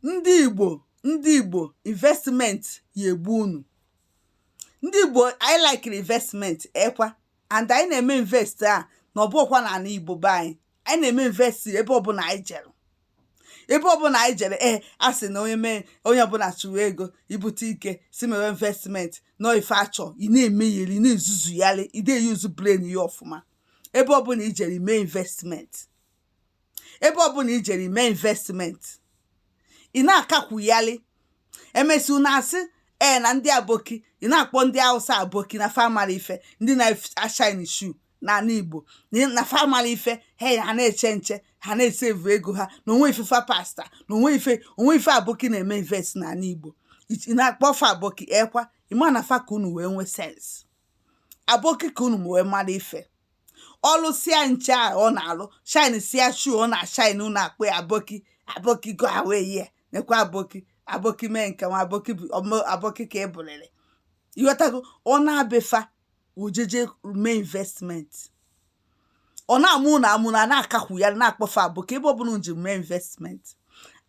ndị Igbo ndị Igbo investment ya-egbu unu ndị Igbo anyị likiri investment ekwa and anyị na-eme invest a na ọbụkwa na ala Igbo be anyị anyị na-eme invest ebe ọbụla anyị jere ebe ọbụla anyị jere ee eh, a sị na onye mee onye ọbụla chụwa ego ibute ike si mewe investment nọ ife achọ ị na-emegheri ị na-ezuzuyali ị na-eyuzu brain ya ọfụma ebe ọbụla i jere i mee investment ebe ọbụla i jere i mee investment ị na-akakwuyali emesịa unu asị ee na ndị aboki ị na-akpọ ndị Hausa aboki na fa amarọ ife ndị na-ashine shoe n'ala Igbo na fa amarọ ife he ha na-eche nche ha na-esevu ego ha na o nwe ife fa pasta na o nwe ife o nwe ife aboki na-eme invest n'ala Igbo ị na-akpọ fa aboki ekwa ị ma na fa ka unu wee nwee sense aboki ka unu wee mara ife ọ lụsịa nche a ọ na-alụ shine sịa shoe ọ na-ashine unu akpọ ya aboki aboki go away ya nekwa aboki aboki mee nke nwa aboki bụ ọmụ- aboki ka ị bụrịrị ịghọtago ọ naa be fa o jeje mee investment ọ na-amụ unu amụ na na-akakwu ya na-akpọ fa aboki ebe ọbụla unu je mee investment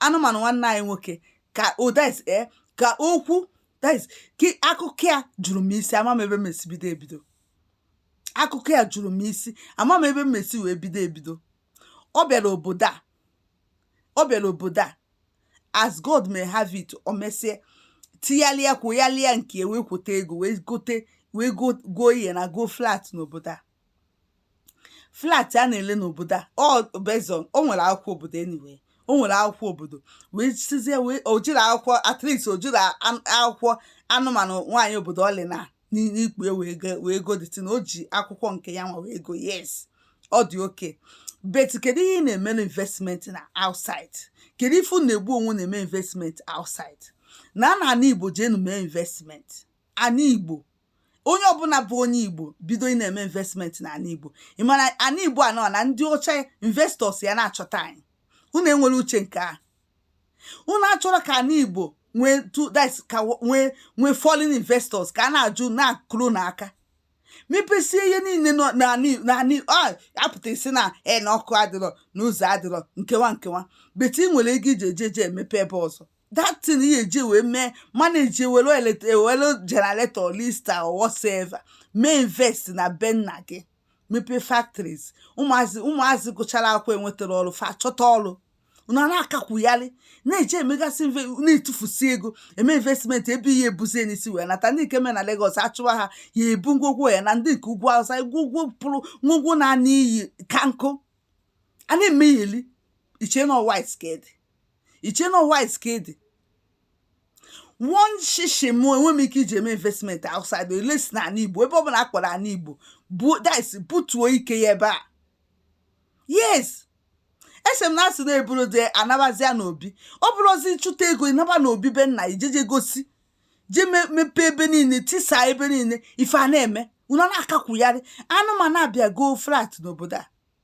anụmanụ nwanne anyị nwoke ka odes e ka okwu des ka akụkọ ya juru m isi ama m ebe m esi bido ebido akụkọ ya juru m isi ama m ebe m esi wee bido ebido ọ bịara obodo a ọ bịara obodo a as God may have it o mesie tiyalịa kwụyalịa nke ya wee kwụta ego wee gote wee go- goo ihe na goo flat n'obodo a flat a na-ele n'obodo a ọ based on o nwere akwụkwọ obodo anyway o nwere akwụkwọ obodo wee sizie wee o jiri akwụkwọ at least o jiri an- akwụkwọ anụmanụ nwaanyị obodo ọ lịna n'ikpu ya wee go- wee go the thing o ji akwụkwọ nke ya nwa wee go yes ọ dị okay but kedu ihe ị na-emere investment na outside kedu ife unu na-egbu onwe na-eme investment outside naa na ana igbo jeenu mee investment ana igbo onye ọbụla bụ onye igbo bido ị na-eme investment na ana igbo ị mara ana igbo anọ na ndị ọcha investors ya na-achọta anyị unu enwere uche nke a unu achọrọ ka ana igbo nwee tu that ka wo- nwee nwee foreign investors ka a na-ajụ na-akụrụ unu aka mepesie ihe niile nọ n'ala Igbo- n'ala Igbo. Ah, a pụta ị sị na e na ọkụ adịrọ na ụzọ adịrọ nke wa nke wa but ị nwere ego i ji eje eje emepe ebe ọzọ that thing ihe e ji wee mee manage ewere elet- ewere generator Lister or whatsoever mee invest na be nna gị mepee factories ụmụazị ụmụazị gụchara akwụkwọ enwetara ọrụ fa chọta ọrụ unu na-akakwugharị na-eji emegasị na-etufusi ego eme investment ebe ihe ebuzie n'isi wee nata ndị nke me na Lagos achụwa ha ya ebu ngwogwo ya na ndị nke ugwu awụsa ngwogwo pụrụ ngwogwo na anị iyi ka nkụ a na-emegheli iche na white ka ede iche na white ka ede one shishi m enwe m ike iji eme investment outside unless na ala igbo ebe ọbụla akpọrọ ala igbo bu dis butuo ike ya ebe a yes ese m na asị na-eburu dị anabazia n'obi ọ bụrụzi chụta ego ị naba n'obi be nna ị jeje gosi je mepee ebe niile tisa ebe niile ife a na-eme unu na-akakwugharị anụmanụ abịa go flat n'obodo a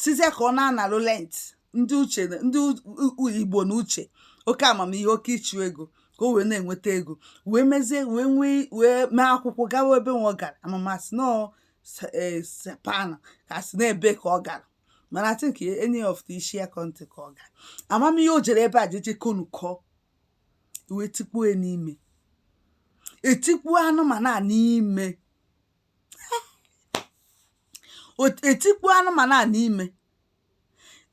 sizie ka ọ na-analụ rent ndị uche ndị igbo na uche oke amamihe oke ịchụ ego ka o wee na-enweta ego wee mezie wee nwee wee mee akwụkwọ gawa ebe nwa ọ gara ama m asị na e, Japan ka asị na ebe ka ọ gara mana I think any of the Asia country ka ọ gara ama m ihe o jere ebe a jeje konukọ wee tikpuo n'ime etikpuo anụmanụ a n'ime etikpuo anụmanụ a n'ime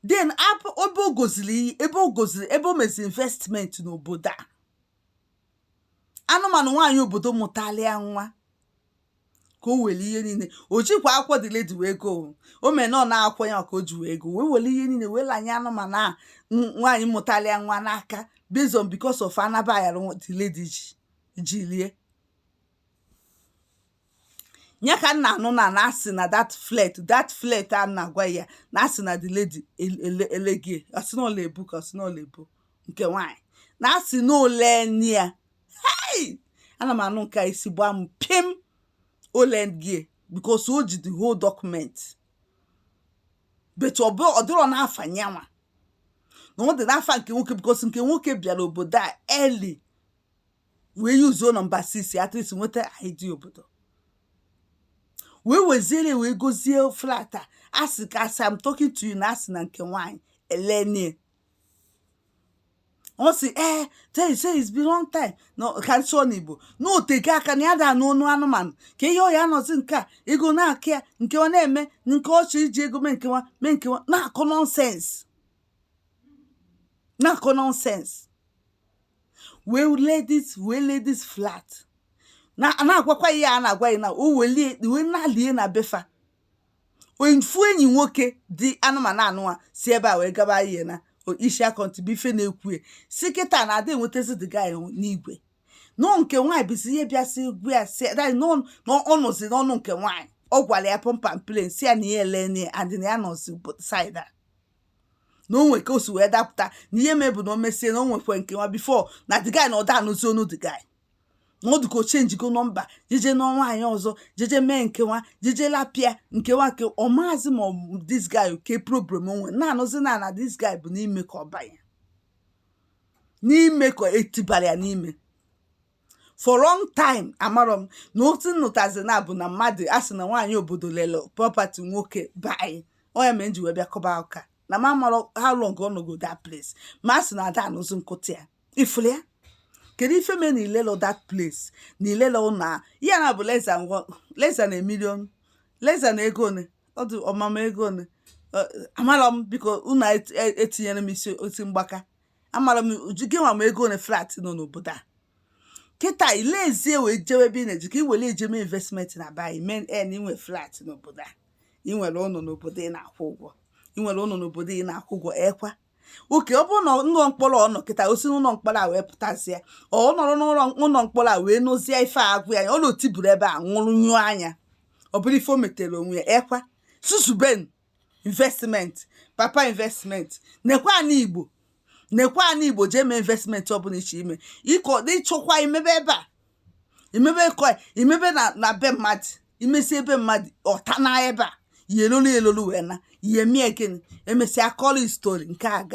then ebe o goziri ebe o goziri ebe o mezi investment n'obodo a anụmanụ nwaanyị obodo mụtalụ ya nwa ka o were ihe niile o jikwa akwụkwọ the lady wee go o mere na ọ n'akwụkwọ ya ka o ji wee go wee were ihe niile wee lanye anụmanụ a nwaanyị mụtalụ ya nwa n'aka based on because of anaba ya the lady ji ji lie ya ka m na-anụ na na asị na that flat that flat a na-agwa ya na asị na the lady elegie asị na ọla ebu ka asị na ọla ebu nke nwaanyị na asị na ole nye ya hei ana m anụ nke isi gbaa m pim o legie because o ji the whole document but ọ dịrọ n'afa nyanwa na ọ dị n'afa nke nwoke because nke nwoke bịara obodo a early wee use-uo number 6 at least nweta ID obodo wee weziere wee gozie flat a asị ka as I'm talking to you na asị na nke nwaanyị elenie ọ sị ee tell say it's been long time na ka m sụọ n'igbo na o tego aka na ya da anụ ọnụ anụmanụ ka ihe ọ ya-anọzi nke a ego na-akụ ya nke ọ na-eme nke ọchị iji ego mee nkewa mee nkewa na-akọ nonsense na-akọ nonsense wee lee this wee lee this flat na a na-agwakwa ya a na-agwa ya na o welie wee nalie na befa ofu enyi nwoke dị anụmanụ anụwa si ebe a wee gaba ihe na o- isi akọntụ bụ ife na-ekwu ya si kịta na ada enwetazi the guy n'igwe nọ nke nwaanyị bụzi ihe bịa si egwu ya si ada nọ nọ ọ nọzi n'ọnụ nke nwaanyị ọ gwara ya pump and plain si ya na ya elene adị na ya nọzi side a na o nwere ka o si wee dapụta na ihe mee bụ na o mesie na o nwekwe nke nwa before na the guy na ọ da anụzi onu the guy na ọ dị ka o changego number jeje nụọ nwaanyị ọzọ jeje mee nke nwa jeje lapịa nke nwa nke ọ maazị ma ọ bụ this guy ke problem o nwere na a nụzi na na this guy bụ n'ime ka ọ banye n'ime ka e tibara ya n'ime for long time amarọ m na otu nnụtazi na bụ na mmadụ a sị na nwaanyị obodo lele property nwoke be anyị onye mere m ji wee bịa kọba ụka na ma amarọ how long ọ nọgo that place ma a sị na ada anụzi nkụta ya ị fụrụ ya kedu ife mee na ilelo that place na ilelo na ya na bụ less than one less than a million less than ego one ọ dị ọmama ego one amarọ m biko unu etinyere m isi osi mgbaka amarọ m uju gị nwa ma ego one flat nọ n'obodo a kịta i lezie wee jewe ebe ị na-eji ka i were jee mee investment na bayi men en i nwe flat n'obodo a ị nwere ụlọ n'obodo ị na-akwụ ụgwọ ị nwere ụlọ n'obodo ị na-akwụ ụgwọ ekwa okay ọ bụrụ na ụlọ mkpọrọ ọ nọ kịta o si n'ụlọ mkpọrọ a wee pụtazie ọ ọ nọrọ n'ụlọ ụlọ mkpọrọ a wee nụzie ife a gwa ya ọ na-otiburu ebe a nwụrụ nyụọ anya ọ bụrụ ife o metere onwe ya ekwa susuben investment papa investment nekwa ana igbo nekwa ana igbo jee mee investment ọ bụla ị chọ ime ịkọ ị chọkwa imebe ebe a imebe kọ imebe na na be mmadụ i mesi ebe mmadụ ọta na ebe a yelolu yelolu wee na ihe mie gịnị e mesịa kọlụ story nke aga